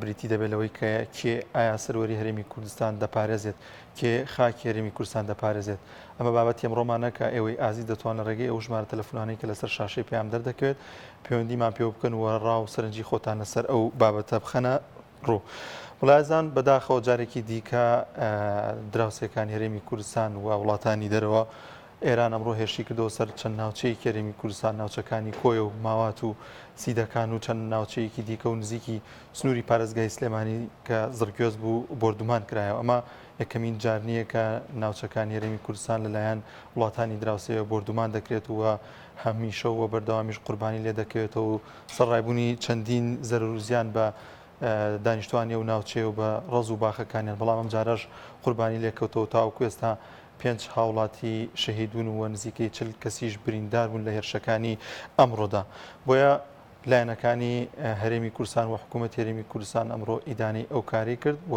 بریتی دەبێت لەوەی کە کێ ئایا سەروەری هەرێمی کوردستان دەپارێزێت کێ خاکی هەرێمی کوردستان دەپارێزێت ئەمە بابەتی ئەمڕۆمانەکە ئێوەی ئازی دەتوانە ڕێگەی ئەو ژمارە تەلەفۆنانەی کە لەسەر شاشەی پێیان دەردەکەوێت پەیوەندیمان پێ بکەن و ڕاو و سەرنجی خۆتان لەسەر ئەو بابەتە بخەنە ڕوو وڵایزان بەداخەوە جارێکی دیکە دراوسێکانی هەرێمی کوردستان و وڵاتانی دەرەوە ئێران ئەمڕۆ هێرشی کردەوە سەر چەند ناوچەیەکی هەرێمی کوردستان، ناوچەکانی کۆیە و ماوات و سیدەکان و چەند ناوچەیەکی دیکە و نزیکی سنووری پارێزگای سلێمانی کە زڕگوێز بوو بۆردومان کرایەوە. ئەمە یەکەمین جار نییە کە ناوچەکانی هەرێمی کوردستان لەلایەن وڵاتانی دراوسێوە بۆردومان دەکرێت و هەمیشە و بەردەوامیش قوربانی لێ دەکەوێتەوە و سەرڕایبوونی چەندین زەرەر و زیان بە دانیشتوانی ئەو ناوچەیە و بە ڕەز و باخەکانیان، بەڵام ئەمجارەش قوربانی لێکەوتەوە تاوەکو ئێستا پێنج هاوڵاتی شەهیدبوون و نزیکەی چل کەسیش برینداربوون لە هێرشەکانی ئەمڕۆدا. بۆیە لایەنەکانی هەرێمی کوردستان و حکوومەت هەرێمی کوردستان ئەمڕۆ ئیدانەی ئەو کاری کرد و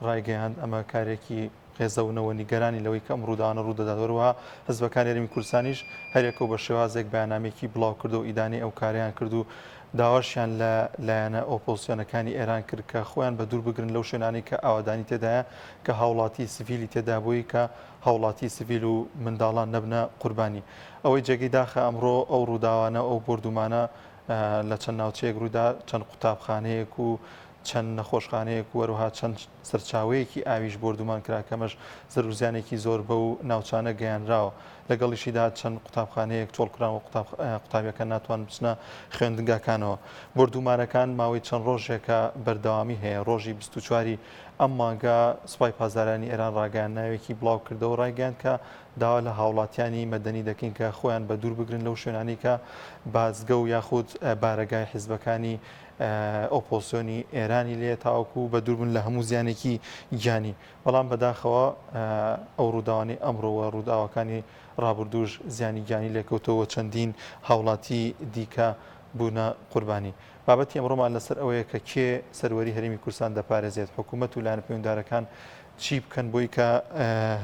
ڕایگەیاند ئەمە کارێکی قێزەونەوە نیگەرانی لەوەی کە ئەم ڕووداوانە ڕوودەدات وەروەها حزبەکانی هەرێمی کوردستانیش هەرێکە و بە شێوازێک بەیانامێکی بڵاو کردو ئیدانەی ئەو کاریان کرد و داواشیان لە لایەنە ئۆپۆزسیۆنەکانی ئێران کرد کە خۆیان بەدوور بگرن لەو شوێنانەی کە ئاوەدانی تێدایە کە هاوڵاتی سڤیلی تێدا بووی کە هاوڵاتی سڤیل و منداڵان نەبنە قوربانی. ئەوەی جێگەی داخە ئەمڕۆ ئەو ڕووداوانە و ئەو بۆردوومانە لە چەند ناوچەیەک ڕوویدا چەند قوتابخانەیەک و چەند نەخۆشخانەیەک و هەروەها چەند سەرچاوەیەکی ئاویش بۆردومان کرا کەمەش زەروزیانێکی زۆر بەو ناوچانە گەیانراوە لەگەڵیشیدا چەند قوتابخانەیەک چۆڵ کراوە قوتابیەکە ناتوان بچنە خوێندگاکانەوە بردومارەکان ماوەی چەند ڕۆژێکە بەردەوامی هەیە ڕۆژی 24واری ئەم مانگە سوپای پازدارانی ئێران ڕاگەیان ناوێکی بڵاو کردەوە ڕایگەیان کە داوا لە هاوڵاتیانی مەدەنی دەکەین کە خۆیان بە دوور بگرن لەو شوێنانی کە بازگە و یاخود بارەگای حیزبەکانی ئۆپۆزسیۆنی ئێرانی لێ تاوەکو بە دووربن لە هەموو زیانێکی گیانی بەڵام بەداخەوە ئەو ڕووداوانی ئەمڕۆوە ڕووداوەکانی ڕابردووش زیانی گیانی لێکەوتەوە چەندین هاوڵاتی دیکە بوونە قوربانی بابەتی ئەمڕۆمان لەسەر ئەوەیە کە کێ سەروەری هەرمی کوردستان دەپارێزێت حکوومەت و لاەن پێوەندارەکان چی بکەن بۆی کە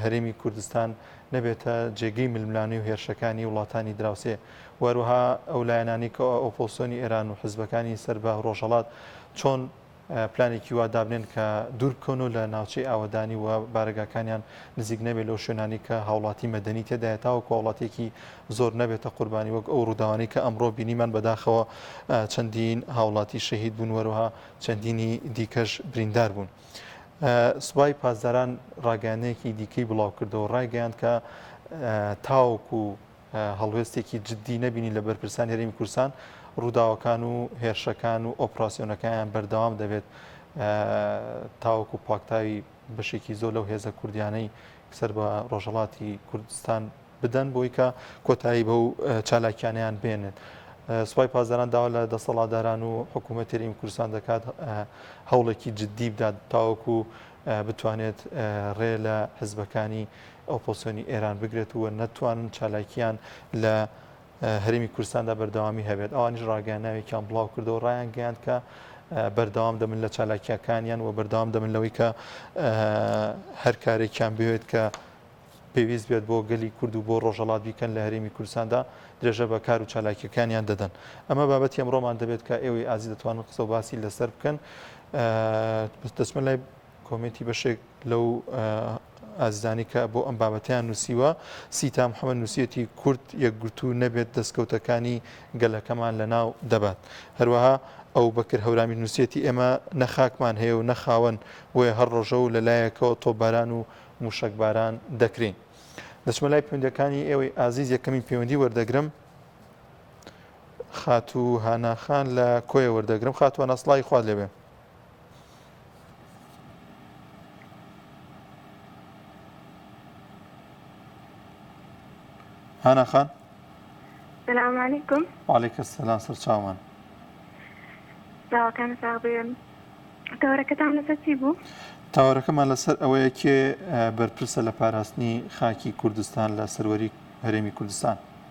هەرێمی کوردستان نەبێتە جێگەی ململانەی و هێرشەکانی وڵاتانی دراوسێ وهروها ئەو لایەنانەی کە ئۆپۆزسیۆنی ئێران و حزبەکانی سەر بە رۆژهەڵات چۆن پلانێکی وا دابنێن کە دوور بکەون و لە ناوچەی ئاوەدانی و بارەگاکانیان نزیک نەبێت لەو شوێنانی کە هاوڵاتی مەدەنی تێدایە تاوەکو هاوڵاتیەکی زۆر نەبێتە قوربانی وەک ئەو رووداوانەی کە ئەمڕۆ بینیمان بەداخەوە چەندین هاوڵاتی شەهید بوون وەروها چەندینی دیکەش بریندار بوون. سوپای پاسداران راگەیانەیەکی دیکەی بڵاوکردەوە رایگەیاند کە تاوەکو هەڵوێستێکی جددی نەبینی لە بەرپرسانی هەرێمی کوردستان، ڕووداوەکان و هێرشەکان و ئۆپراسیۆنەکانیان بەردەوام دەبێت تاوەکو پاکتاوی بەشێکی زۆر لەو هێزە کوردیانەی سەر بە ڕۆژهڵاتی کوردستان بدەن بۆی کە کۆتایی بەو چالاکیانیان بێنێت. سوپای پازداران داوا لە دەسەڵاتداران و حکوومەت تێریم کوردستان دەکات هەوڵێکی جددی بدات تاوەکو بتوانێت ڕێ لە حزبەکانی ئۆپۆسیۆنی ئێران بگرێت و نەتوانن چالاکییان لە هەرێمی کوردستاندا بەردەوامی هەبێت ئەوانیش ڕاگەیانناوێکیان بڵاو کردەوە ڕایان گەیاند کە بەردەوام دەبن لە چالاکیەکانیان و بەردەوام دەبن لەوەی کە هەر کارێکیان بوێت کە پێویست بێت بۆ گەلی کورد و بۆ ڕۆژەڵات بیکەن لە هەرێمی کوردستاندا درێژە بە کار و چالاکیەکانیان دەدەن ئەمە بابەتی ئەمڕۆمان دەبێت کە ئێوەی ئازی دەتوانن قسە و باسی لەسەر بکەن دەچمە لای کۆمێنتی بەشێک لەو ئازیزانی کە بۆ ئەم بابەتیان نووسیوە سیتا محەممەد نووسەتی کورد یەکگرتو نەبێت دەستکەوتەکانی گەلەکەمان لە ناو دەبات هەروەها ئەو بەکر هەورامی نووسەتی ئێمە نەخاکمان هەیە و نەخاوەن بۆیە هەر ڕۆژە و لەلایەکەوە تۆباران و موشەکباران دەکرین دەچمە لای پوندەکانی ئێوەی ئازیز یەکەمی پەیوەندی وەردەگرم خاتوو هاناخان لە کۆیە وەردەگرم خاتووە نەسڵی خوارد لەبێ هانا خان سلام علیکم وعلیکم سلام سر چاومان داواکان ساغ بێن تاوەرەکەتان لەسەر چی بوو؟ تاوەرەکەمان لەسەر ئەوەیە کێ بەرپرسە لە پاراستنی خاکی کوردستان لە سەروەری هەرێمی کوردستان.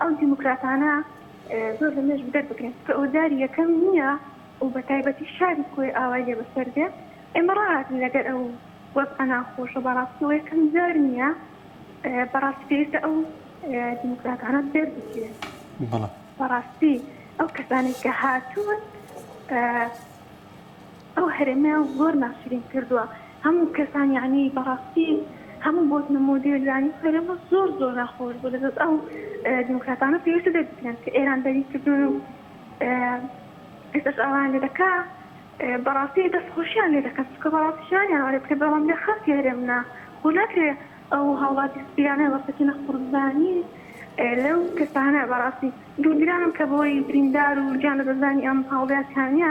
ئەو دیموکراتانە زۆر لە مێژ بدەر بکرێن چکە ئەوە جاری یەکەم نییە و بە تایبەتی شاری کۆی ئاوای لێ بەسەر دێ ئێمە ڕاهاتن لەگەر ئەو وەز ئەنا خۆشە بەڕاستەوە یەکەم جار نییە بەڕاستی پێویستە ئەو دیموکراتانە بدەر بکرێن بەڕاستی ئەو کەسانێک کە هاتوون ئەو هەرێمە زۆر ناشرین کردوە هەموو کەسان یانی بەڕاستی هەموو بۆتنە مۆدێل یانی هەرێمە زۆر زۆر ناخۆش بوو لەدەست ئەو دیموکراتانە پێویستە دەربکرێن کە ئێران دەری کردوون و ئێستاش ئاوایان لێ دەکا بەڕاستی دەستخۆشیان لێ دەکەن چکە بەڕاستی شانیان وارێ بکە بەڵام لە خەڵکی هەرێمنا خۆ ناکرێ ئەو هاوڵاتی سپیانە وەسەکینە قوربانی لەو کەسانە بەڕاستی دڵگرانم کە بۆی بریندار و گیان لەدەستدانی ئەم هاوڵاتیانە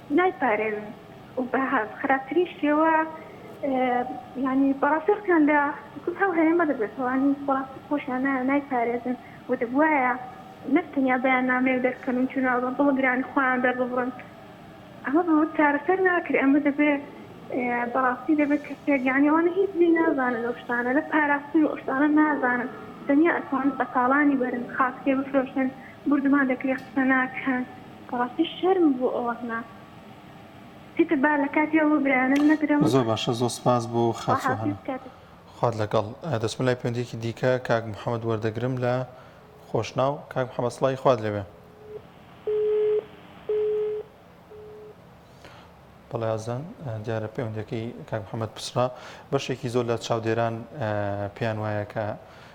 نایپارێزن و بە خراپترین شێوە یانی بەڕاستی ڕقیان لە کورد هەو هەرێمە دەبێتەوە یانی بەڕاستی خۆشیان نایە و نایپارێزن و دەبوایە نەک تەنیا بەیاننامەیەک دەربکەن و جنێو بە بڵگرانی خۆیان دەرببڕن ئەمە بە چارەسەر ناکرێ ئەمە دەبێ بەڕاستی دەبێت کەسێک یانی ئەوانە هیچ لێ نازانن ئەو شتانە لە پاراستنی ئەو شتانە نازانن تەنیا ئەتوانن بە تاڵانی بەرن خاک تێبفرۆشن بوردومان دەکرێ قسە ناکەن بەڕاستی شەرم بوو ئەوەهمە چیتر با لە کاتی ئەوە برایانە نەدرم. زۆر باشە زۆر سپاس بۆ خاچوهنە. خوات لەگەڵ. دەچمە لای پەیوەندیەکی دیکە کاک محمد وەردەگرم لە خۆشناو. کاک محمد سڵاوی خوات لێبێ. بەڵێ ئازان دیارە پەیوەندەکەی کاک محەممەد پچڕا بەشێکی زۆر لە چاودێران پێیان وایە کە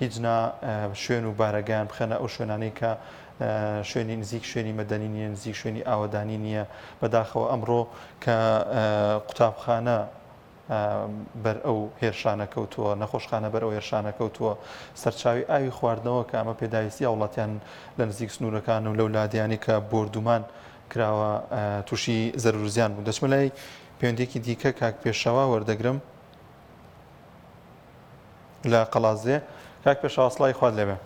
هیچ نا شوێن و بارەگایان بخەنە ئەو شوێنانەی کە شوێنی نزیک شوێنی مەدەنی نیە نزیک شوێنی ئاوەدانی نییە بەداخەوە ئەمڕۆ کە قوتابخانە بەر ئەو هێرشانە کەوتووە نەخۆشخانە بەر ئەو هێرشانە کەوتووە سەرچاوی ئاوی خواردنەوە کە ئەمە پێداویستی وڵاتیان لە نزیک سنوورەکان و لەو لادیانی کە بردومان کراوە تووشی زەرورزیان بوو دەچمە لای پەیوەندێکی دیکە کاک پێشەوا وەردەگرم لە قەڵادزێ کاک پێشەوا سڵاوی خوات لێبێ.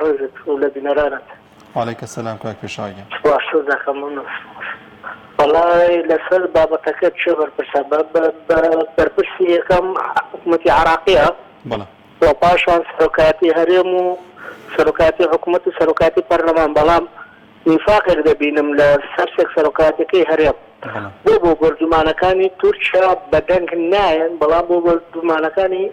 ڕێزت و لە بینەرانت. وعلیک سلام کاک پێشەوا گیان. سپاست دەکەم وەڵا لەسەر بابەتەکەت چ بەرپرسە بەرپرسی یەکەم حکومەتی عراقیە بەڵێ و پاشان سەرۆکایەتی هەرێم و سەرۆکایەتی حکومەت و سەرۆکایەتی پەرلەمان بەڵام نیفاقێک دەبینم لە سەرسێک سەرۆکاتیەکەی هەرێم بۆ بۆ بۆردومانەکانی تورکیا بەدەنگ نایەن بەڵام بۆ بۆردومانەکانی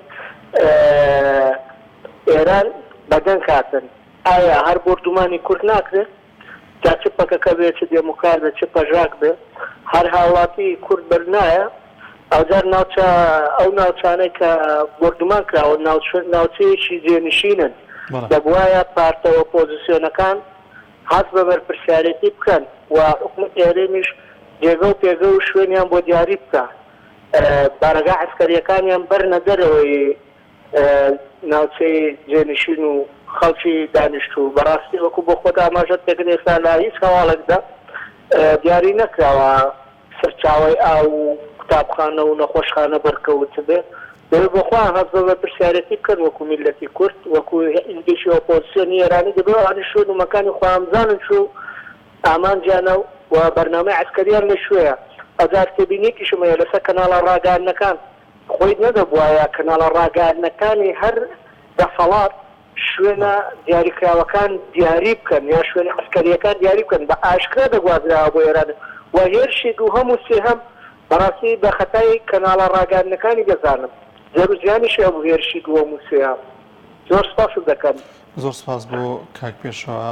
ئێران بەدەنگ هاتن ئایا هەر بۆردومانی کورد ناکرێت جا چ پەکەکە بێ چ دێموکار بێ چ پەژاک بێ هەر هاوڵاتی کورد بەر نایە ئەوجار ناوچە ئەو ناوچانەی کە بۆردومان کراوە ناوچێکی جێنشینن دەبواە پارتەوە پۆزیسیۆنەکان هەست بە بەرپرسیارێتی بکەن و حکومەتی هەرێمیش جێگە و پێگە و شوێنیان بۆ دیاری بکا بارەگا عەسکەریەکانیان بەرنە دەرەوەی ناوچەی جێنشین و خەڵکی دانیشتوو بەڕاستی وەکو بۆ خۆت ئاماژەت پێکرد ئێستا لە هیچ هەواڵێکدا دیاری نەکراوە. سەرچاوەی ئاو و قوتابخانە و نەخۆشخانە بەرکەوت بێ دەبێ بۆ خۆیان هەست بە پرسیارێتی بکەن وەکو میللەتی کورد وەکو گەشی ئۆپۆزسیۆنی ئێرانی دەبێ ئەوانیش شوێن و مەکانی خۆیان بزانن چۆ و ئامانجیانە و بەرنامەی عەسکەریان لە کوێیە ئەجار تێبینیەکیشم هەیە لەسەر کەناڵە ڕاگەیاندنەکان خۆی نەدەبوایە کەناڵە ڕاگەیاندنەکانی هەر دەسەڵات شوێنە دیاریکراوەکان دیاری بکەن یان شوێنە عەسکەرییەکان دیاری بکەن بە ئاشکرا دەگوازراوە بۆ ئێران و هێرشی دووهەم و سێهەم بەڕاستی بە خەتای کەناڵە ڕاگەیاندنەکانی دەزانم زێر و زیانیشی هەبوو هێرشی دووەم و سێهەم زۆر سپاست دەکەم. زۆر سپاس بۆ کاک پێشەوا.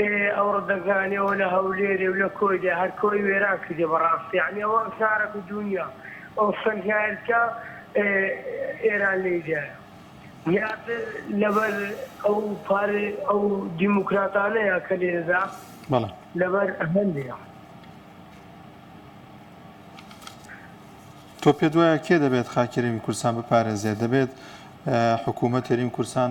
ئێ ئەو ڕدەگانێ و لە هەولێرێ و لە کۆی دێ هەر کۆی وێران کردێ بەڕاست یەعنی ئەوە شارە بە دوونیا ئەو سەنگایلکە ئێران لێی دایە زیاتر لەبەر ئەو پار ئەو دیموکراتانەیە کە لێ دەدا لەبەر هەندێ. تۆ پێت وایە کێ دەبێت خاکی هەرێمی کوردستان بپارێزێت دەبێت حکوومەت هەرێمی کوردستان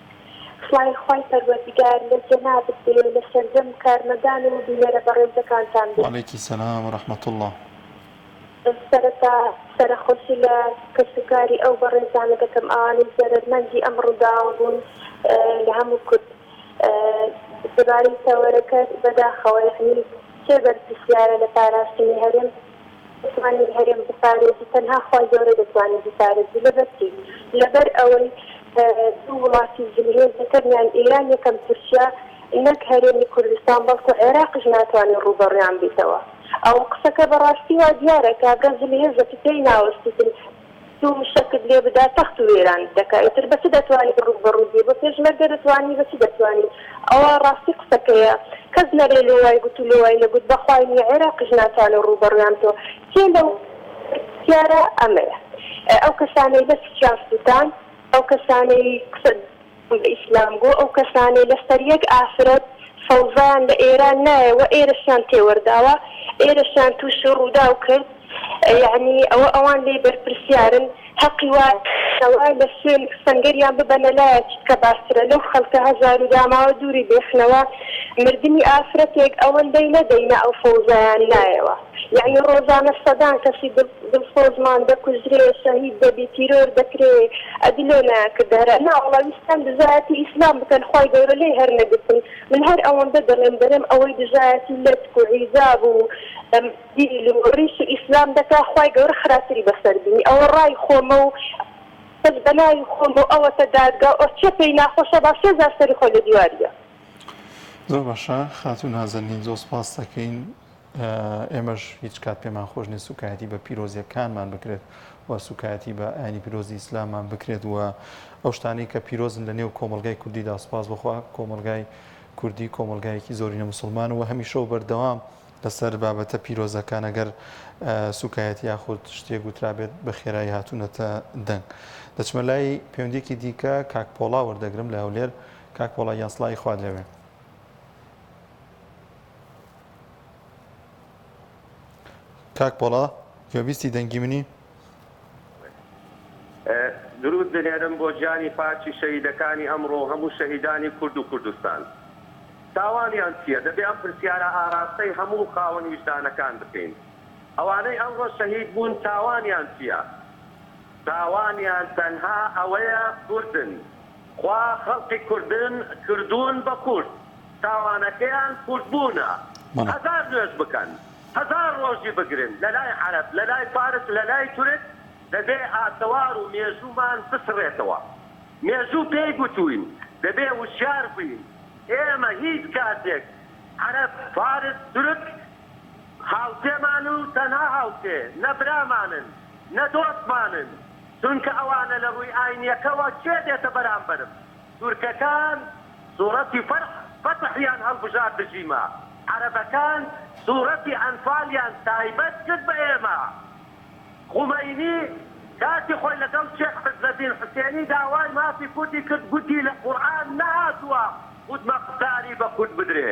سڵای خوای پەروەردگار لە جەنابت بێ لە سەرجەم کارمەندان و بینەرە بەڕێزەکانتان بێ. وعلیک سلام و رحمە اللە. سەرەتا سەرەخۆشی لە کەس و کاری ئەو بەڕێزانە دەکەم ئەوانەی زەرەر مەندی ئەم ڕوداوە بوون لە هەموو کورد دەبارەی تەوەرەکە بەداخەوە یەعنی کێ بەرپرسیارە لە پاراستنی هەرێم بتوانێت هەرێم بپارێزی تەنها خوای گەورە دەتوانێت بیپارێزی لەبەر چی؟ لەبەر ئەوەی دوو وڵاتی زلهێز یەکەمیان ئێران یەکەم تورکیا نەک هەرێمی کوردستان بەڵکو عێراقیش ناتوانێت ڕووبەڕوویان بیتەوە ئەوە قسەکە بەڕاستی وا دیارە کابرا زلهێزە تکیای ناوەستیتن دوو مشەکت لێ بدا تەخت و وێرانت دەکا ئیتر بە چ دەتوانی بەڕوو بەڕوو بی بە پێشمەرگە دەتوانی بە چی دەتوانی ئەوە ڕاستی قسەکەیە کەس نەرێ لۆ وای گوت و لۆ وای نەگوت بە خوای نیە عێراقیش ناتوانێ ڕوو بەڕویان تۆ کێ لە پرسیارە ئەمەیە ئەو کەسانەی لە سکیان سوتاند ئەو کەسانەی قسە بە ئیسلام گۆ ئەو کەسانەی لەسەر یەک ئافرەت سەوزەیان لە ئێران نایە وە ئێرەشیان تێوەرداوە ئێرەشیان توشی ڕووداو کرد یەعنی ئەوە ئەوان لێی بەرپرسیارن هەقی وا کەوە لە سوێن سەنگەریان ببەنە لایە چتکە باشترە لەو خەلکە هەژارو داماوە دووری بێخنەوە مردنی ئافرەتێک ئەوەندەی نەدەینە ئەو سەوزەیان نایەوە. یەعنی ڕۆژانە سەدان کەسی دڵسۆزمان دەکوژرێ شەهید دەبی تیرۆر دەکرێ ئەدی لۆ نایانکردە هەرە ناوەڵا ویستیان دژایەتی ئیسلام بکەن خوای گەورە لێی هەر نەگرتن من هەر ئەوەندە دەڵێم دەرێم ئەوەی دژایەتی لەتک و حیجاب و دیل و ڕیش و ئیسلام دەکا خوای گەورە خراپتری بەسەر بینی ئەوە ڕای خۆمە و بەس بەناوی خۆم و ئەوەتە دادگا و ئۆ چێ پێی ناخۆشە با سێ جار سەری خۆی لە دیواریە. زۆر باشە خاتوو نازەنین زۆر سوپاستەکەین. ئێمەش هیچ کات پێمان خۆش نیە سوکایەتی بە پیرۆزیەکانمان بکرێت و سوکایەتی بە ئاینی پیرۆزی ئیسلامان بکرێت و ئەو شتانەی کە پیرۆزن لە نێو کۆمەلگای کوردیدا سوپاس بخوا کۆمەلگای کوردی کۆمەلگایەکی زۆرینە مسلمان و هەمیشە و بەردەوام لەسەر بابەتە پیرۆزەکان ئەگەر سوکایەت یاخود شتێک گوترابێت بە خێرایی هاتوونەتە دەنگ دەچمە لای پەیوەندێکی دیکە کاک پۆڵا وەردەگرم لە هەولێر کاک پۆڵا یاسڵی خوارد لەوێ کاک پۆڵا گوێبیستی دەنگی منی؟ درود دلێرم بۆ گیانی پاکی شەهیدەکانی ئەمڕۆ و هەموو شەهیدانی کورد و کوردستان. تاوانیان چیە؟ دەبێ ئەم پرسیارە ئاراستەی هەموو خاوەن ویژدانەکان بکەین. ئەوانەی ئەمڕۆ شەهید بوون تاوانیان چیە؟ تاوانیان تەنها ئەوەیە کوردن. خوا خەڵقی کوردن کردوون بە کورد تاوانەکەیان کورد بوونە هەزار نوێژ بکەن هەزار ڕۆژی بگرن لەلای عەرەب لەلای فارس لەلای تورک دەبێ ئاسەوار و مێژوومان بسڕێتەوە مێژوو پێی گوتووین دەبێ وشیار بووین ئێمە هیچ کاتێک عەرەب فارس تورک هاوسێمان و تەنها هاوسێ نە برامانن نە دۆستمانن چونکە ئەوانە لە ڕووی ئاینیەکەوە کێ دێتە بەرامبەرم؟ تورکەکان سوڕەتی فەرح، فەتح، یان هەڵبژارد دژیمە، عەرەبەکان سوڕەتی ئەنفالیان تایبەت کرد بە ئێمە، خومەینی کاتی خۆی لەگەڵ شێخ عزەدین حوسێنی داوای مافی کوردی کرد گوتی لە قورئان نەهاتووە خودمەختاری بە کورد بدرێ،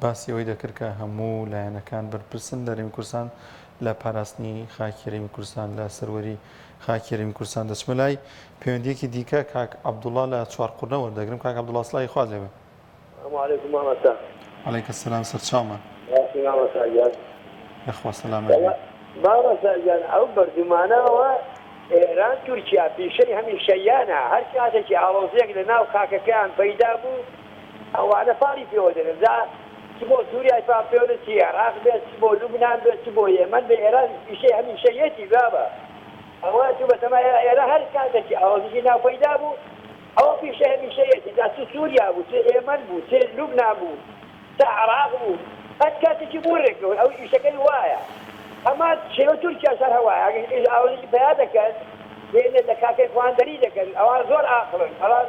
باسی ئەوەی دەکرد کە هەموو لایەنەکان بەرپرسن لە رێمی کوردستان لە پاراستنی خاکی رێمی کوردستان لە سەروەری خاکی رێمی کوردستان دەچمە لای پەیوەندیەکی دیکە کاک عبدوڵا لە چوار قرنە وەردەگرم کاک عبدوڵا سڵاوی خوات لێبێ علیکە سلام سەرچاومە یخوا سەلامەت بی مامۆستاگیان ئەو بەردومانەوە ئێران تورکیا پیشەی هەمیشەییانە هەر کاتێکی ئاڵۆزیەک لە ناو خاکەکەیان پەیدا بوو ئەوانە پاڵی پێوە دەنێن جا چ بۆ سوریای پا پێونێ چ ئێراق بێت چ بۆ لوبنان بێت چ بۆ یەمەن بێ ئێران پیشەی هەمیشەییەتی بابە ئەوە چوو بەتەما ئێرا ئێرا هەر کاتەکی ئاڵۆزیی ناو پەیدا بوو ئەوە پیشەی هەمیشەییەتی جا چ سوریا بوو چ ئێمەن بوو چ لوبنان بوو چ عێراق بوو هەر کاتەکی بوو رێکەون ئەو ئیشەکەی وایە هەمان شێوە تورکیاش هەر هەوایە ئەگەر ئیش ئاڵۆزیی پەیا دەکەن دێنێ دەکاکەی خواندەری دەکەن ئەوان زۆر ئاقڵن بەڵام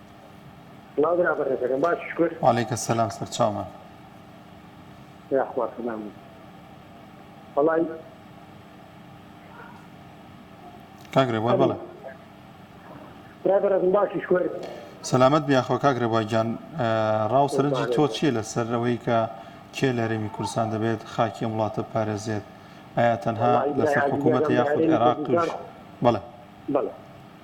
سڵاو برا بەڕێزەکەم باش شکر. وعلیک سلام سەرچاومان. یاخوا سەلام بی وەڵای. کاک رێبوار بەڵێ. ئەلو برای بەڕێزم باشی شکر. سەلامەت بی یاخوا کاک رێبوار گیان ڕا و سەرنجی تۆ چییە لەسەر ئەوەی کە کێ لە هەرێمی کوردستان دەبێت خاکی ئەم وڵاتە بپارێزێت؟ ئایا تەنها لەسەر حکوومەتە یاخود عێراق تووش بەڵێ. بەڵێ.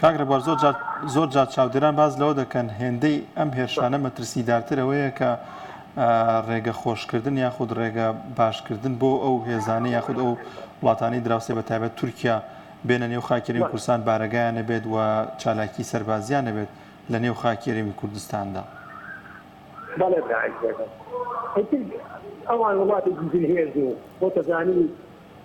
کاک ڕێبوار زۆر جار زۆر جار چاودێران باس لەوە دەکەن هێندەی ئەم هێرشانە مەترسیدارتر ئەوەیە کە ڕێگە خۆشکردن یاخود ڕێگە باشکردن بۆ ئەو هێزانە یاخود ئەو وڵاتانی دراوسێ بە تایبەت تورکیا بێنە نێو خاکێرەوی کوردستان بارەگایان نەبێت و چالاکی سەربازیان نەبێت لە نێو خاکێرەوی کوردستاندا. بەڵێ براعزێزم ئیتر ئەوان وڵاتێکی زلهێز و خۆتەزانی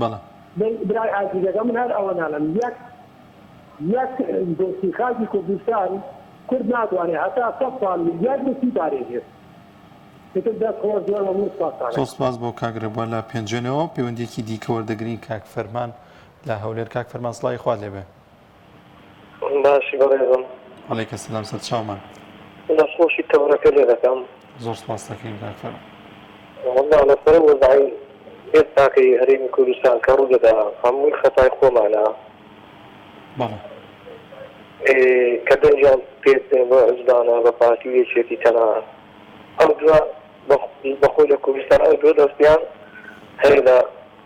بەڵام. بەی برای ئازیز ئەگەر من هەر ئەوە نالێم یەک یەک دۆستی خاکی کوردستان کورد ناتوانێ هەتا سەد ساڵ یەک دۆستی پارێزێت ئیتر دەست خۆش زۆر مەمنون سوپاستانە. زۆر سوپاس بۆ کاک رێبوار لە پێنجوێنەوە پەیوەندیەکی دیکە وەردەگرین کاک فەرمان لە هەولێر کاک فەرمان سڵاوی خوات لێبێ. باشی بەڕێزم. علیک سلام سەرچاو من. دەست خۆشی تەورەکە لێ دەکەم. زۆر سپاست دەکەین کاک تەرە. وەڵا لەسەر وەزعی ئێستاکەی هەرێمی کوردستان کە ڕوودەدا هەمووی خەتای خۆمانە. بەڵێ. ئێ کە دەنگیان پێ بدەین بۆ عوزبانە بە پارتی و یەکێتی تەنانەت ئەو دووە بە خۆی لە کوردستان ئەو دووە دەستیان هەیە لە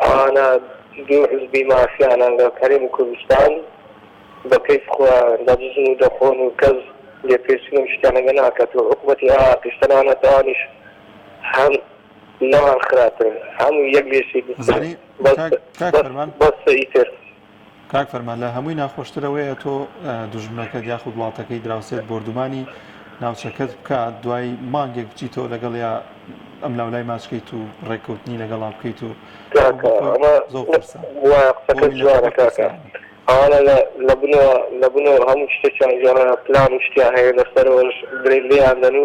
ئانا دوو حزبی مافیا لەگەڵ هەرێمی کوردستان بە کەیف خۆیان دەدزن و دەخۆن و کەس لێپرسی لەم شتانەگە ناکات و عوقبەتی عێراقیش تەنانەت ئەوانیش هەم لەوان خراپن هەموو یەک لێ سیدترن بەسە ئیتر کاک فەرمان لە هەمووی ناخۆشتر ئەوەیە تۆ دوژمنەکەت یاخود وڵاتەکەی دراوسێت بۆردومانی ناوچەکەت بکات دوای مانگێک بچیتەوە لەگەڵ یا ئەم لاولای ماچکەیت و ڕێککەوتنی لەگەڵا بکەیت و ئەوانە لە بنەوە لە بنەوە هەموو شتێکیان گێڕە پلان و شتیان هەیە لەسەرەوەش درێ لێیاندەن و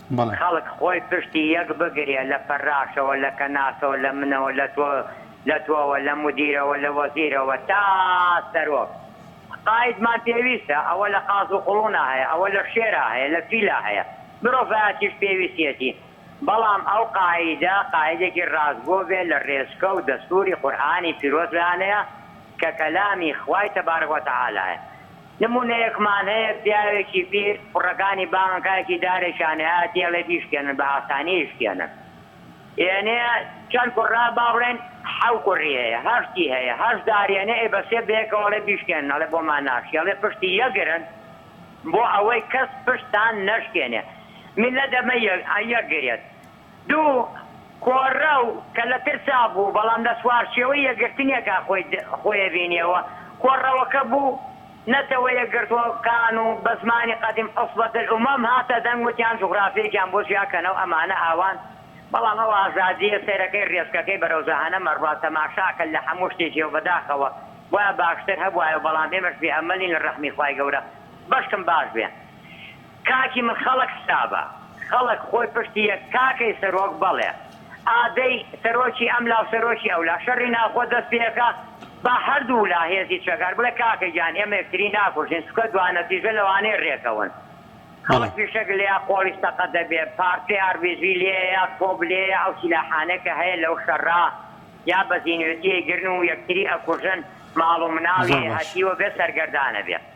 خەڵک خۆی پشتی یەک بگرێ لە فەراشەوە لە کەناسەوە لە منەوە لە تۆ لە تۆوە لە مودیرەوە لە وەزیرەوە تا سەرۆک قایدمان پێویستە ئەوە لە قاز و قوڵونا هەیە ئەوە لە شێرا هەیە لە فیلا هەیە مرۆڤایەتیش پێویستیەتی بەڵام ئەو قایدە قایدێکی ڕاستگۆ بێ لە ڕێچکە و دەستوری قورئانی پیرۆز لایانەیە کە کەلامی خوای تبارک وتعالی یە نموونەیەکمان هەیە، پیاوێکی پیر کوڕەکانی بانگەکایەکی دارێکیان هەیە، دێڵێ بیشکێنن، بە ئاسانی ئیشکێنن. ئێنێ چەند کوڕە، با بڵێن حەو کوڕی هەیە، هەشتی هەیە، هەشت دار ئێنێ، ئێ بە سێ بەیەکەوە ئەڵێ بیشکێنن، ئەڵێ بۆمان ناشکێ، ئەڵێ پشتی یەکگرن، بۆ ئەوەی کەس پشتتان نەشکێنێ. میللەت دەبێ یەکگرێت. دوو، کۆڕەو، کە لە ترسا بوو، بەڵام لە چوارچێوەی یەکگرتنێکا خۆی خۆیەبینیەوە، کۆڕەوەکە بوو، نەتەوە یەکگرتووەکان و بە زمانی قەدیم عصبة الامم هاتە دەنگ وتیان جوغرافیەکیان بۆ جیاکەنەوە ئەمانە ئاوان، بەڵام ئەو ئازادیە سەیرەکەی رێچکەکەی بەرەو جەهەنەمە ڕوا تەماشاکە لە هەموو شتێکی و بەداخەوە بوایە باشتر هەبوایە بەڵام ئێمەش بێ ئەمەلین لە رەحمی خوای گەورە بەشکم باش بێ. کاکی من خەڵک سابە خەڵک خۆی پشتی یەک کاکەی سەرۆک بەڵێ ئادەی سەرۆکی ئەملا و سەرۆکی ئەولا شەڕی ناوخۆ دەست پێکا با هەردوو لا هێزی چەکدار بڵێ کاکە گیان ئێمە یەکتری ناکوژین چونکە دوا نەتیژە لەوانەیە رێکەون بەڵێ. خەڵک فیشەک لێیە قۆڵی سەقەت دەبێ پارچەی ئاربیجی لێیە تۆپ لێیە ئەو سیلاحانەی کە هەیە لەو شەڕا یا بەزینوێتی ئەیگرن و یەکتری ئەکوژن ماڵ و مناڵی زۆر باش. هەتیوە بێ سەرگەردانە بێ.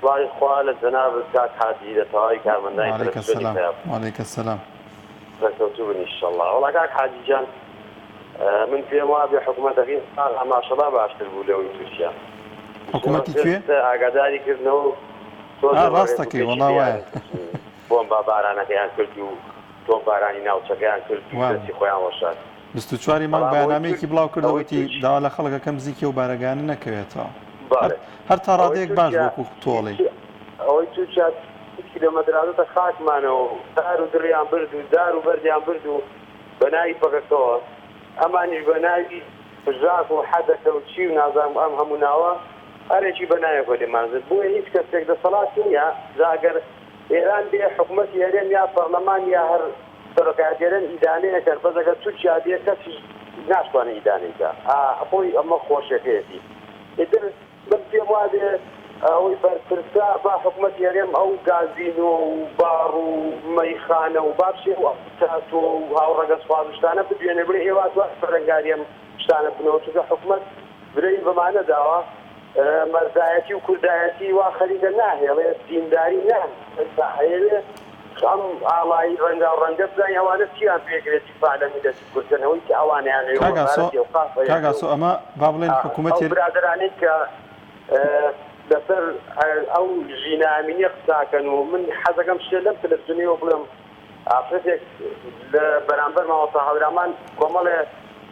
سڵاوی خوا لە جەنابت کاک حاجی لە تەواوی کارمەندانی وعلیک تەلەفزیۆنی سلام پەیام. وعلیک سلام. سەرکەوتوو بن ئیشەڵا. وەڵا کاک حاجی جان من پێم وابێ حکومەتەکەی ئاغا ماشەڵا باشتر بوو لەوەی تورکیا. حکومەتی کوێ؟ ئیشەڵا پێت ئاگاداری کردنەوە و تۆ ئا لە ڕاست ڕێز و دەکەی پێشی وەڵا وایە. دیارت بچوو بۆمبا بارانەکەیان کرد و تۆپبارانی ناوچەکەیان کرد و وا بوو. دەستی خۆیان وەشاند. بیست و چوار ی مانگ بەیانامەیەکی بڵاوکرد و وتی، داوا لە خەڵک ئەکەم بزیکی ئەو بارەگایانە نەکەوێتەوە. هەر تا ڕادەیەک باش بوو وەکو تۆڵەی. ئەوەی تورکیا تیشکی لە مەدرادۆتە خاکمانەوە و دار و دڕیان برد و دار و بەردیان برد و بە ناوی پەکەکەوە ئەمانیش بە ناوی پژاک و حدەکە و چی و نازانم ئەم هەموو ناوە هەرێکی بە ناوێکەوە لێمان زد بۆیە هیچ کەسێک دەسەڵاتی نیە جا گەر ئێران بێ حکومەتی هەرێم یا پەڕلەمان یا هەر سەرۆکایەتیەرێن ئیدانەی ئەکەن بەس ئەگەر تورکیا بێ کەسی ناشتوانێ ئیدانەی کا ئا خۆی ئەمە خۆشێکەیەتی ئیتر من پێم وابێ ئەوەی بەرپرسە با حکومەتی هەرێم ئەو گازینۆ و باڕ و مەیخانە و با بچێ و تاتۆ و هاوڕەگەزخواز و شتانە بدوێنێ بڵێ ئێوە ئەتوانن بەرەنگاری ئەم شتانە بنەوە چونکە حکومەت برەی بەمانە داوە مەردایەتی و کوردایەتی وا خەریکە ناهێڵێ دینداری ناهێڵێ ئەیەوێ ئەم ئاڵای ڕەنگاو ڕەنگە بزانی ئەوانە چیان پێ گرێ دیفاع لە میللەتی کورد کەن ئەوەی کە ئەوانیان هەیە و کاک ئاسۆ وەزارەتی ئەوقاف هەیە کاک ئاسۆ ئەمە با بڵێن حکوومەت ئەو برادەرانەی کە لەسەر ئەو ژینا ئەمینیە قساکەن و من حەزەکەم شتێ لەم تەلەفزیۆنەوە بڵێم ئافرەتێک لە بەرامبەر مامۆستا هەورامان کۆمەڵێ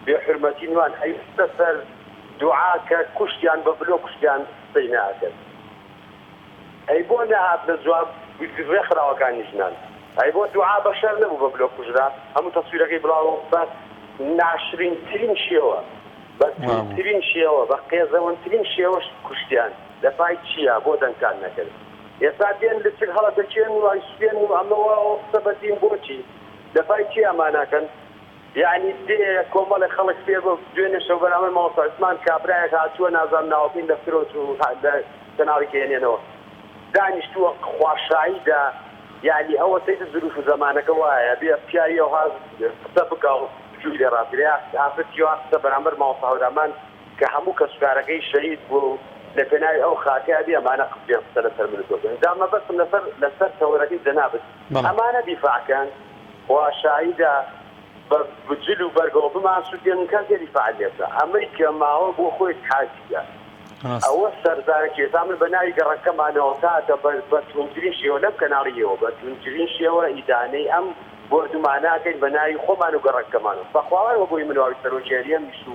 بێ حورمەتی نوان ئەیوستە سەر دوعا کە کوشتیان بە بلۆ کوشتیان قسەی نە ئەکرد ئەی بۆ نەهات لە جواب رێکخراوەکانی ژنان ئەی بۆ دوعا بە شەر نەبوو بە بلۆ کوژرا هەموو تەسویرەکەی بڵاو بە ناشرین ترین شێوە بە توند ترین شێوە بە قێزەون ترین شێوە کوشتیان لە پای چییە بۆ دەنگتان نەکرد. ئێستا دێن لچک هەڵەدەکێن و ئەیسوتێنن و ئەمە و ئەوە قسە بە دین بۆچی دەفای چی ئەمانەکەن یەعنی دێ کۆمەڵێ خەڵک پێ دوێنێ شەو بەرامبەر مامۆستا عوسمان کابرایەک هاتووە نازانم ناوەکەی لە فرۆت و لە کەناڵی دەیەنێنەوە دانیشتووە خوا شاهیدە یەعنی ئەوە سەیرە زروف و زەمانەکە وایە بێ پیاوی ئەوها قسە بکا و بجووڵێ ڕاست گرێ ئافرەت کێوا قسە بەرامبەر مامۆستا هەورامان کە هەموو کەسوکارەکەی شەهید بووە و لە پێناوی ئەو خاکە ئەبێ ئەمانە قسەیان قسە لەسەر من و تۆ بکەن جا مەبەستم لەسەر لەسەر تەوەرەکەی جەنابت ئەمانە دیفاع کەن خوا شاهیدە بە جل و بەرگەوە بمان سوتێنن کەس نێ دیفاعی لێ بکا ئەمەی کە ماوە بۆ خۆی حاجیە ئەوە سەرزارەکی ئێستا من بە ناوی گەڕەکەمانەوە تاکە بە بە توندترین شێوە لەم کەناڵی ئێوە بە توندترین شێوە ئیدانەی ئەم بۆردومانە ئەکەین بە ناوی خۆمان و گەڕەکەمانەوە بە خواوەی وە بۆی من و ئەوی سەرۆکی هەرێمیش و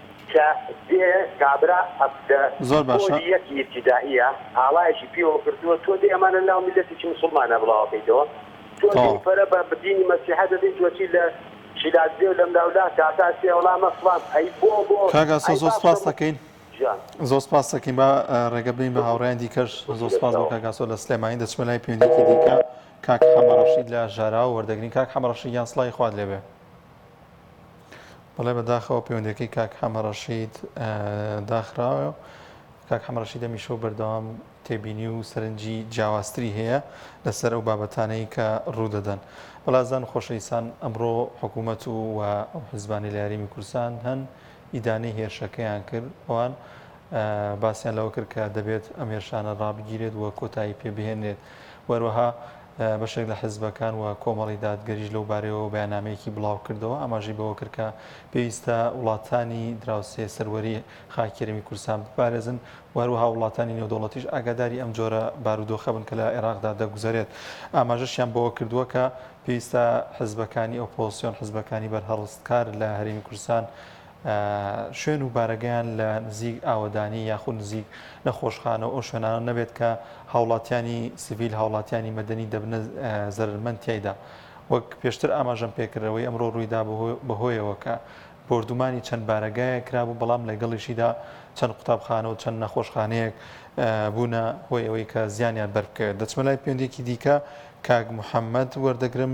کە دێ کابرا ئەفدە زۆر باشە. پۆلی یەکی ئیبتیدائیە ئاڵایەکی پێوە کردووە تۆ دێ ئەمانە ناو میلەتێکی موسڵمانە بڵاو ئەکەیتەوە تۆ دێ تەواو. پەرە بە دینی مەسیحا دەدەی تۆ چی لە شیلاک دێ و لەملاولا کاکە ئەچێ وەڵامە فڵان ئەی بۆ بۆ کاک ئاسۆ ئەی زۆر بابتە سوپاست موس دەکەین جان. زۆر سوپاست دەکەین با ڕێگە بدەین بە هاوڕێیان دیکەش زۆر سوپاس بۆ کاک ئاسۆ لە سلێمانی دەچمە لای پەیوەندیەکی دیکە کاک حەمە ڕەشید لە ژاراوە وەردەگرین کاک حەمە ڕەشید گیان سڵاوی خوات لێبێ. بەڵێ بەداخەوە پەیوەندیەکەی کاک حەمە ڕەشید داخراوە کاک حەمە ڕەشید هەمیشە و بەردەوام تێبینی و سەرنجی جیاوازتری هەیە لەسەر ئەو بابەتانەی کە ڕوودەدەن بەڵازان خۆشەویستان ئەمڕۆ حکوومەت و و ئەو حزبانی لە یاریمی کورسان هەن ئیدانەی هێرشەکەیان کرد ئەوان باسییان لەوە کرد کە دەبێت ئەم هێرشانە ڕابگیرێت و کۆتایی پێبهێنێت وەروەها بەشێک لە حزبەکان و کۆمەڵی دادگەریش لەو بارەیەوە بەیاننامەیەکی بڵاوکردەوە، ئاماژەی بەوەکرد کە پێویستە وڵاتانی دراوسێ سەروەری خاکی هەرێمی کوردستان بپارێزن و هەروەها وڵاتانی نێودەوڵەتیش ئاگاداری ئەم جۆرە بارودۆخە بن کە لە عێراقدا دەگوزەرێت. ئاماژەشیان بەوەکردووە کە پێویستە حزبەکانی ئۆپۆزسیۆن، حزبەکانی بەرهەڵستکار لە هەرێمی کوردستان، شوێن و بارەگایان لە نزیک ئاوەدانی یاخود نزیک نەخۆشخانە و ئەو شوێنانە نەبێت کە هاوڵاتیانی سڤیل، هاوڵاتیانی مەدەنی دەبنە زەرەرمەند تیایدا. وەک پێشتر ئاماژەم پێکرد ئەوەی ئەمڕۆ روویدا بەهۆیەوە کە بۆردومانی چەند بارەگایەک کرابوو بەڵام لەگەڵیشیدا چەند قوتابخانە و چەند نەخۆشخانەیەک بوونە هۆی ئەوەی کە زیانیان بەربکەوێت. دەچمە لای پەیوەندیەکی دیکە کاک محەمەد وەردەگرم.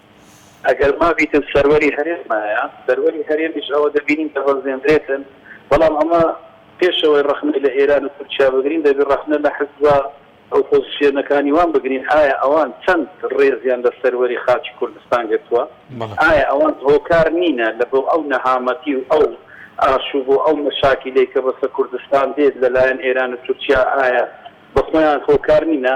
ئەگەر مابیتن سەروەری هەرێمایە، سەروەری هەرێمیش ئەوە دەبینین دەبەزێندرێتن، بەڵام ئەمە پێش ئەوەی ڕەخنەی لە ئێران و تورکیا بگرین، دەبی ڕەخنە لە حزبە ئۆپۆزسیۆنەکانی وان بگرین، ئایا ئەوان چەند ڕێزیان لە سەروەری خاکی کوردستان گرتووە؟ ئایا ئەوان هۆکار نینە لە بۆ ئەو نەهامەتی و ئەو ئاشوب و ئەو مەشاکیلەی کە بەسە کوردستان دێت لە لایەن ئێران و تورکیا، ئایا بە خۆیان هۆکار نینە؟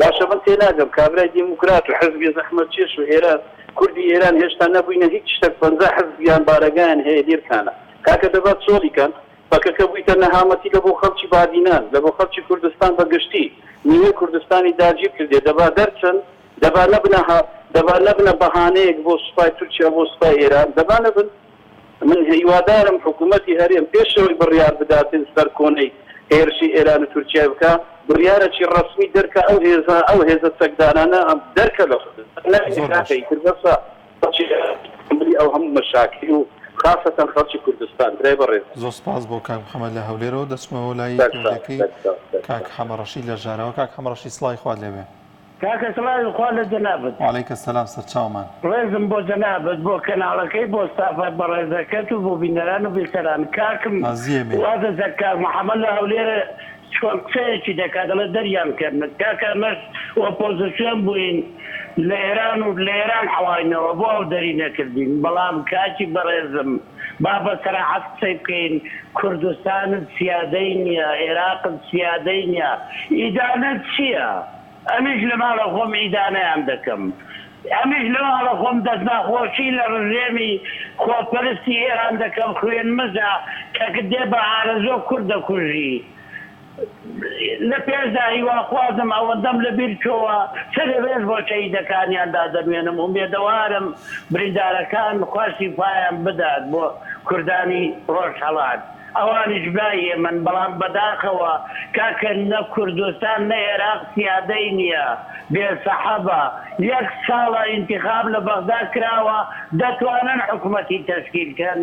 باشە من تێناگەم کابرای دیموکرات و حزبی زەحمەتکێش و ئێران کوردی ئێران هێشتا نەبووینە هیچ شتەک پەنجا حزب یان بارەگایان هەیە هیرکانە کاکە دەبا چۆڵی کەن پەکەکە بوویتە نەهامەتی لەبۆ خەڵکی بادینان لەبۆ خەڵکی کوردستان بەگشتی نیوەی کوردستانی داگیر کردیە دەبا دەرچن دەبا نەبنە دەبا نەبنە بەهانەیەک بۆ سوپای تورکیا بۆ سوپای ئێران دەبا نەبن من هیوادارم حکوومەتی هەرێم پێش ئەوەی بڕیار بدات سەرکۆنەی هێرشی ئێران و تورکیای بکا، بڕیارەکی ڕەسمی دەرکا ئەو هێزە ئەو هێزە چەکدارانە دەرکە لە زۆر باش. ئەو هەموو مەشاکل و خاسەتەن خەڵکی کوردستان برای بەڕێز. زۆر سپاس بۆ کاک محەمەد لە هەولێرەوە دەچمەوە لای پەیوەندیەکەی کاک حەمە ڕەشید لە ژاراوە کاک حەمە ڕەشید سڵاوی خوات لێبێ. کاکە سڵاوی خوا لە جەنابت. وعلیک السلام سەرچاومان. ڕێزم بۆ جەنابت بۆ کەناڵەکەی بۆ ستافە بەڕێزەکەت و بۆ بینەران و بیسەران کاکم وازە زەک کاک محمد لە هەولێر چۆن قسەیەکی دەکات دەڵێت دەریان کەرنت کاکە ئەمەش ئۆپۆزسیۆن بووین لە ئێران و لە ئێران حەواینەوە بۆ ئەو دەری نەکردین بەڵام کاکی بەڕێزم با بە سەراحەت قسەی بکەین کوردستانت سیادەی نیە ئێراقت سیادەی نیە ئیدانەت چیە ئەمیش لە ماڵە خۆم ئیدانەیان دەکەم. ئەمیش لە ماڵە خۆم دەستناخۆشی لە ڕژێمی خۆپەرستی ئێران دەکەم خوێن مژە کەکت دێ بە ئارەزۆ کورد دەکوژی لە پێشدا هیواخوازم ئەوەندەم لە بیر چۆوە سەرێ ڕێز بۆ شەهیدەکانیان دادەنوێنم ئومێدەوارم بریندارەکان خوا شیفایان بدات بۆ کوردانی ڕۆژهەڵات. ئەوانیش برای ئێمەن بەڵام بەداخەوە کاکە نە کوردستان نە ئێراق سیادەی نیە بێ سەحەبە یەک ساڵە ئینتیخاب لە بەغدا کراوە دەتوانن حکومەتی تەشکیل کەن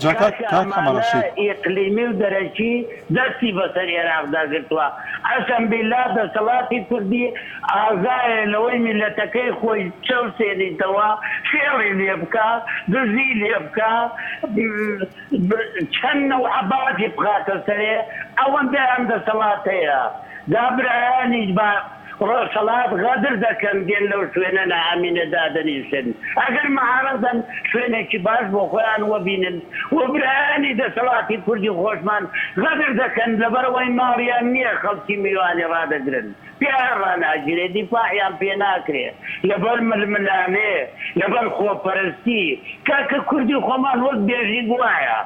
کاکە ئەمانە ئیقلیمی و دەرەکی دەستی بەسەر ئێراقدا گرتوە قەسەم بیلا دەسەڵاتی کوردی ئازایە لەوەی میلەتەکەی خۆی چەوسێنیتەوە فێڵی لێبکا دزی لێبکا. چەن نەو عەبادی بخاتە سەرێ ئەوەندەیان دەسەڵات هەیە جا برایانیش بە ڕۆژهەڵات غەدر دەکەن دێن لەو شوێنە نا ئەمینە دادەنیشن ئەگەر معارەزەن شوێنێکی باش بۆ خۆیان وەبینن و برایانی دەسەڵاتی کوردی خۆشمان غەدر دەکەن لەبەرئەوەی ماڵیان نیە خەڵکی میوانی ڕادەگرن تیایان ڕاناگیرێ دیفاعیان پێ ناکرێ لەبەر ململانێ لەبەر خۆپەرستی کاکە کوردی خۆمان وەک بێژیک وایە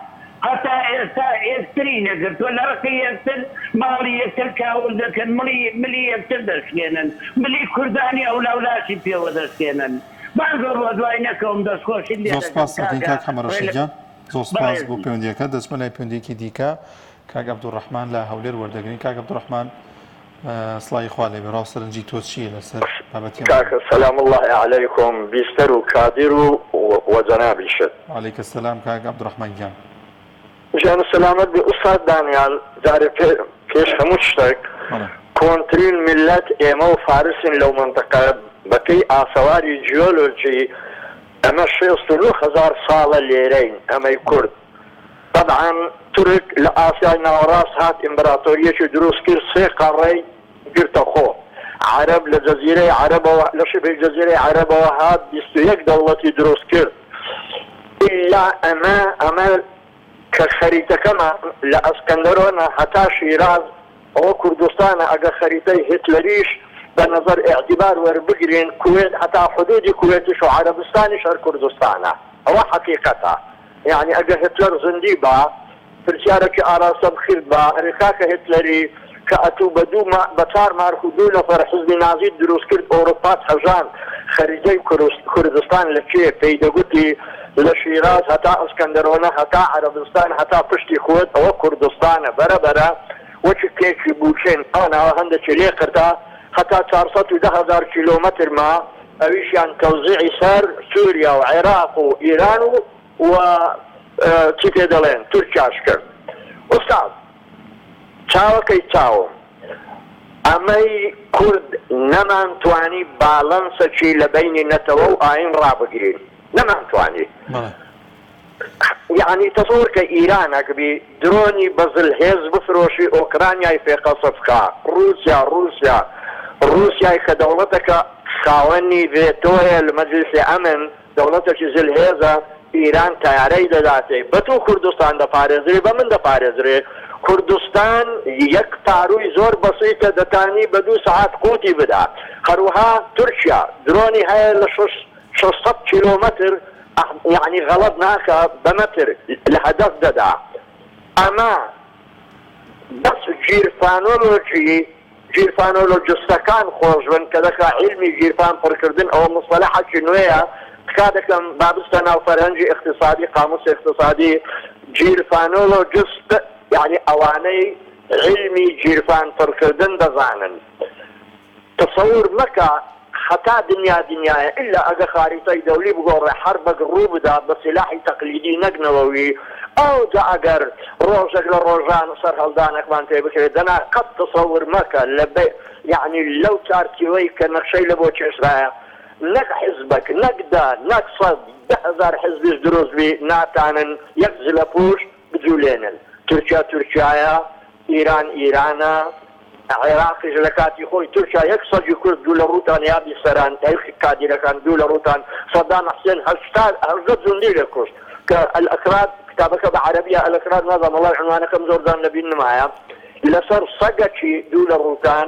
هەتا ئێستا ئێکتری نەگرتوە لەڕقی یەکتر ماڵی یەکتر کاول دەکەن مڵی ملی یەکتر دەشکێنن ملی کوردانی ئەولاو لاشی پێوە دەشکێنن بان زۆر وەدوای نەکەوم دەستخۆشیت لێ زۆر دەکەم سوپاست ئەکەین کاکە کاک حەمە ڕێ ڕەشید لە گیان زۆر سوپاس بۆ بەڕێزی. پەیوەندیەکەت دەچمە لای پەیوەندیەکی دیکە کاک عبدالرحمن لە هەولێر وەردەگرین کاک عبدالرحمن سڵاوی خوا لێبێ ڕاو سەرنجی تۆ چیە لەسەر بابەتی ئەمڕۆ؟ کاکە سلام اللە علیکم بیستەر و کادر و و جەنابیشت. وعلیک السلام کاک عبدالرحمن گیان. جان و سەلامەت بی ئوستاد دانیال جارێ پێ پێش هەموو تشتەک بەڵێ. کۆنترین میللەت ئێمە و فارسین لەو مەنتقە بە پێی ئاسەواری جیۆلۆجی ئەمە شێست و نۆ هەزار ساڵە لێرەین ئەمەی کورد تەبعەن تورک لە ئاسیای ناوەڕاست هات ئیمبراتۆریەکی دروست کرد سێ قەڕەی گرتە خۆ عەرەب لە جەزیرەی عەرەبەوە لە شبه جەزیرەی عەرەبەوە هات بیست و یەک دەوڵەتی دروست کرد ئیلا ئەمە ئەمە کە خەریتەکەمان لە ئەسکەندەرۆنە هەتا شیراز ئەوە کوردستانە ئەگەر خەریتەی هیتلەریش بە نەزەر ئیعتیبار وەربگرین کوێت هەتا حدودی کوێتیش و عەرەبستانیش هەر کوردستانە ئەوە حەقیقەتە. یانی ئەگە هتلەر زندی با پرسیارە ک ئاراستە بکرد با ئەرێ کاکە هتلەری ک ئەتوو بە دوو مە بە کار مارک و دوو نەفەر حزبی نازیت دروس کرد ئۆروپات هەژاند خەریدەی کورس کوردستان لە کێ پێی دەگوتی لە شیراز هەتا ئەسکەندەرۆنە هەتا عەرەبستان هەتا پشتی کوێت ئەوە کوردستانە بەرە بەرە وەک کێکی بووکێن ئەوە ناوە هەندەکی لێ قرتا هەتا چار سەد و دە هەزار کیلۆمەتر مە ئەویشیان تەوزیعی سەر سوریا و عێراق و ئیران و و چی پێ دەڵێن تورکیاش کرد ئوستاز چاوەکەی چاوم ئەمەی کورد نەمان توانی باڵەنسەکی لە بەینی نەتەوە و ئاین ڕابگرین نەمان توانی یەعنی تەسەوڕکە ئیران ئەکبی درۆنی بە زل هێز بفرۆشی ئۆکرانیای پێ قەسف کا ڕوسیا ڕوسیا ڕوسیای کە دەوڵەتەکە خاوەنی ڤێتۆیە لە مەجلیسی ئەمن دەوڵەتەکی زل هێزە ئیران تەیارەی دەداتێ بە تو کوردستان دەپارێزرێ بە من دەپارێزرێ کوردستان یەک پاروی زۆر بەسیتە دەتانی بە دو سەعات قوتی بدا هەروها تورکیا درۆنی هەیە لە شەش شەش سەد کیلۆمەتر یانی غەڵەت ناکا بە مەتر لە هەدەف دەدا ئەمە بەس گیرفانۆلۆجی گیرفانۆلۆجستەکان خۆش بن کە دەکا عیلمی گیرفان پڕکردن ئەوە موستەلەحەکی نوێیە تکا دەکەم با بچتە ناو فەرهەنگی ئیقتسادی قاموسی ئیقتسادی گیرفانۆلۆجست یانی ئەوانەی عیلمی گیرفان پڕکردن دەزانن تەسەور مەکە حەتا دنیا دنیایە ئیلا ئەگە خاریتای دەولی بگۆڕێ حەربەک ڕوو بدا بە سیلاحی تەقلیدی نەک نەوەوی ئەوجا ئەگەر ڕۆژەک لە ڕۆژان سەرهەڵدانەکمان پێ بکرێ دەنا قەت تەسەور مەکە لە بە یەعنی لەو چارتیوەی کە نەخشەی لە بۆ کێشرایە نەک حیزبەک نەک دە نەک سەد دە هەزار حیزبیش دروست بی ناتانن یەک زلەپوش بجولێنن تورکیا تورکیایە ئیران ئیرانە عێراقیش لە کاتی خۆی تورکیا یەک سەگی کورد دوو لە ڕووتان یادی سەران تەیخی کادیرەکان دوو لە ڕووتان سەدام حسێن هەشتا هەژدە جوندی لە کوشت کە ئەلئەکراد کتابەکە بە عەرەبیە ئەلئەکراد نازانم وەڵای عنوانەکەم زۆر جار لە بیر نمایە لەسەر سەگەکی دوو لە ڕووتان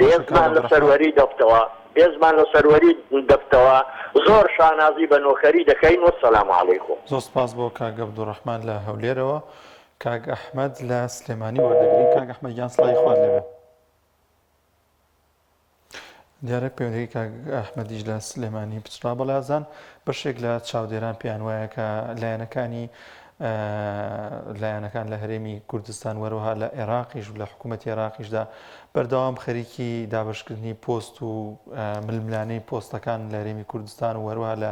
بێزمان لە سەروەری دەفتەوە بێزمان لە سەروەری دەفتەوە زۆر شانازی بە نۆکەری دەکەین وەسەلام علیکم. زۆر سپاس بۆ کاک عبدالرحمن لە هەولێرەوە کاک احمد لە سلێمانی وەردەگرین کاک احمد گیان سڵاوی خوات لێبێ. دیارە پەیوەندیەکەی کاک ئەحمەدیش لە سلێمانی پچڕا بە لازان، بەشێک لە چاودێران پێیان وایە کە لایەنەکانی لایەنەکان لە هەرێمی کوردستان وەروها لە عێراقیش و لە حکوومەت عێراقیشدا بەردەوام خەریکی دابشکردنی پۆست و ململانەی پۆستەکان لە هەرێمی کوردستان و وەروها لە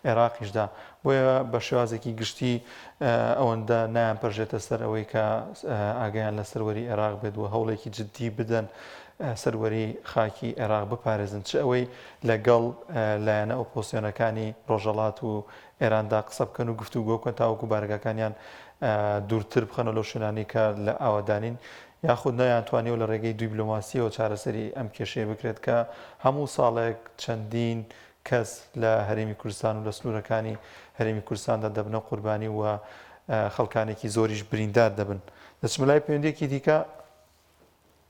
عێراقیشدا بۆیە بە شێوازێکی گشتی ئەوەندە نایان پەرژێتە سەر ئەوەی کە ئاگیان لە سەروەری عێراق بێت و هەوڵێکی جددی بدەن سەروەری خاکی عێراق بپارێزن، چ ئەوەی لە گەڵ لایەنە ئۆپۆزسیۆنەکانی ڕۆژهەڵات و ئێراندا قسە بکەن و گفتوگۆ بکەن تاوەکو بارەگاکانیان دوورتر بخەنەوە لەو شوێنانەی کە لە ئاوەدانین، یاخود نەیانتوانیوە لە ڕێگەی دویبلۆماسییەوە چارەسەری ئەم کێشەیە بکرێت کە هەموو ساڵێک چەندین کەس لە هەرێمی کوردستان و لە سنوورەکانی هەرێمی کوردستاندا دەبنە قوربانی و خەڵکانێکی زۆریش بریندار دەبن. دەچمە لای پەیوەندییەکی دیکە.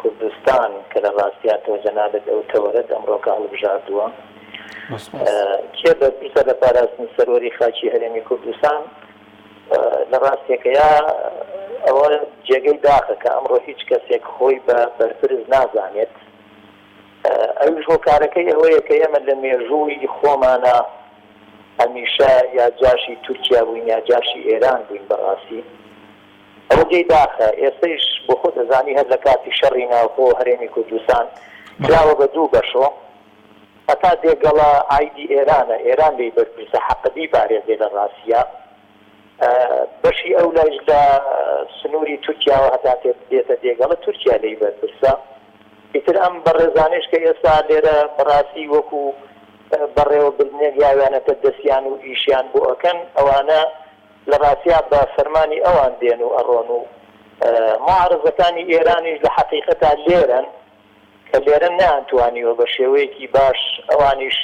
کوردستان کە لە ڕاستیاتەوە جەنابت ئەو تەوەرەت ئەمڕۆکە هەڵبژاردووە کێ بەرپرسە لە پاراستنی سەروەری خاکی هەرێمی کوردستان لە ڕاستێکەیا ئەوە جێگەی داخە کە ئەمڕۆ هیچ کەسێک خۆی بە بەرپرس نازانێت ئەوش هۆکارەکەی ئەوەیە کە ئێمە لە مێژووی خۆمانە هەمیشە یا جاشی تورکیا بووین یا جاشی ئێران بووین بەڕاستی ئەوە جێی داخە ئێستەیش بۆ خۆت ئەزانی هەر لە کاتی شەڕی ناوخۆ هەرێمی کوردستان کراوە بە دوو بەشۆ هەتا دێگەڵە عایدی ئێرانە ئێران لێی بەرپرسە حەقە بیپارێزێ لە ڕاسیا بەشی ئەو لایش لە سنوری تورکیاوە هەتا تێت دێتە دێگەڵە تورکیا لێی بەرپرسە ئیتر ئەم بەڕێزانەیش کە ئێستا لێرە بەڕاستی وەکو بەڕێوە بردنێک یاویانەتە دەسیان و ئیشیان بۆ ئەکەن ئەوانە لە ڕاستیا بە فەرمانی ئەوان دێن و ئەڕۆن و موعارەزەکانی ئێرانیش لە حەقیقەتا لێرەن کە لێرە نەیانتوانیوە بە شێوەیەکی باش ئەوانیش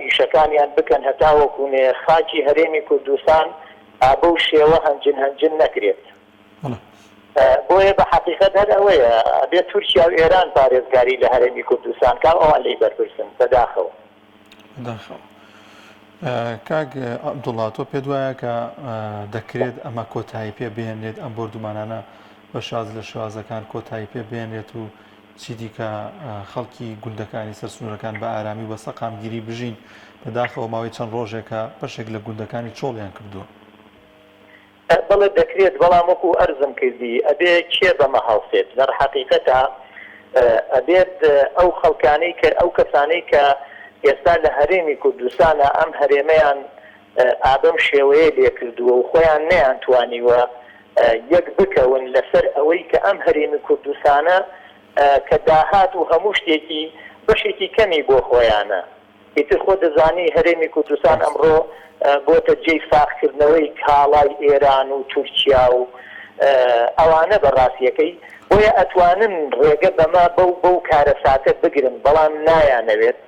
ئیشەکانیان بکەن هەتاوەکو نێ خاکی هەرێمی کوردستان بەو شێوە هەنجن هەنجن نەکرێت. بۆیە بە حەقیقەت هەر ئەوەیە ئەبێ تورکیا و ئێران پارێزگاری لە هەرێمی کوردستان کا و ئەوان لێی بەرپرسن بەداخەوە. بەداخەوە. کاک عەبدوڵا تۆ پێت وایە کە دەکرێت ئەمە کۆتایی پێ بێنرێت ئەم بۆردومانانە بە شاز لە شوازەکان کۆتایی پێ بێنرێت و چی دیکە خەڵکی گوندەکانی سەر سنوورەکان بە ئارامی و بە سەقامگیری بژین بەداخەوە ماوەی چەند ڕۆژێکە بەشێک لە گوندەکانی چۆڵیان کردووە. بەڵێ دەکرێت بەڵام وەکو ئەرزم کردی ئەبێ کێ بەمە هەڵسێت لەڕ حەقیقەتا ئەبێت ئەو خەڵکانەی کە ئەو کەسانەی کە ئێستا لە هەرێمی کوردستانا ئەم هەرێمەیان ئابەم شێوەیە لێکردووە و خۆیان نەیان توانیوە یەک بکەون لەسەر ئەوەی کە ئەم هەرێمی کوردستانە کە داهات و هەموو شتێکی بەشێکی کەمی بۆ خۆیانە ئیتر خۆت دەزانی هەرێمی کوردستان ئەمڕۆ بۆتە جێی ساغکردنەوەی کاڵای ئێران و تورکیا و ئەوانە بە ڕاستیەکەی بۆیە ئەتوانن ڕێگە بەمە بەو بەو کارەساتە بگرن بەڵام نایانەوێت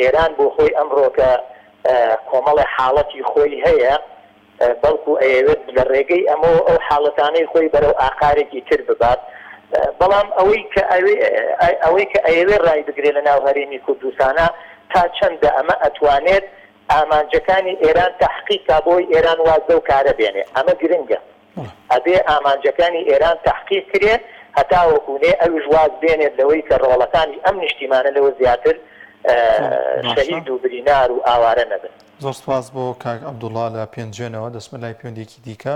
ئێران بۆخۆی ئەمڕۆکە کۆمەڵێ حاڵەتی خۆی هەیە بەڵکو ئەیەوێت لە ڕێگەی ئەمەوە ئەو حاڵەتانەی خۆی بەرەو ئاقارێکی تر ببات، بەڵام ئەوەی کە ئەوەی کە ئەیەوێت ڕایبگرێت لە ناو هەرێمی کوردستانە تا چەندە ئەمە ئەتوانێت ئامانجەکانی ئێران تەحقیق کا بۆی ئێران واز لەو کارە بێنێ ئەمە گرنگە ئەبێ ئامانجەکانی ئێران تەحقیق کرێ هەتاوەکو نێ ئەویش واز بێنێت لەوەی کە ڕۆڵەکانی ئەم نیشتیمانە لەوە زیاتر شەهید و برینار و ئاوارە نەبن. زۆر سپاس بۆ کاک عەبدوڵا لە پێنجوێنەوە دەچمە لای پێوەندیەکی دیکە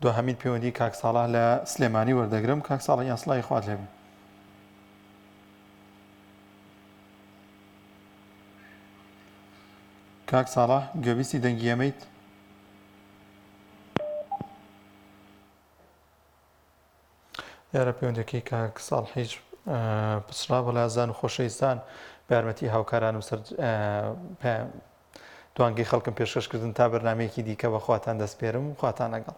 دواهەمین پێوەندی کاک ساڵح لە سلێمانی وەردەگرم کاک ساڵح گیان سڵاوی خوات لێبێ. کاک ساڵح گوێبیستی دەنگی ئەمەیت؟ دیارە پەیوەندیەکەی کاک ساڵحیج پچڕا بە لازان و خۆشەویستان بە یارمەتی هاوکارانم سەر توانگەی خەڵکم پێشکەشکردن تا بەرنمەیەکی دیکە بە خواتان دەستپێرم و خواتان لەگەڵ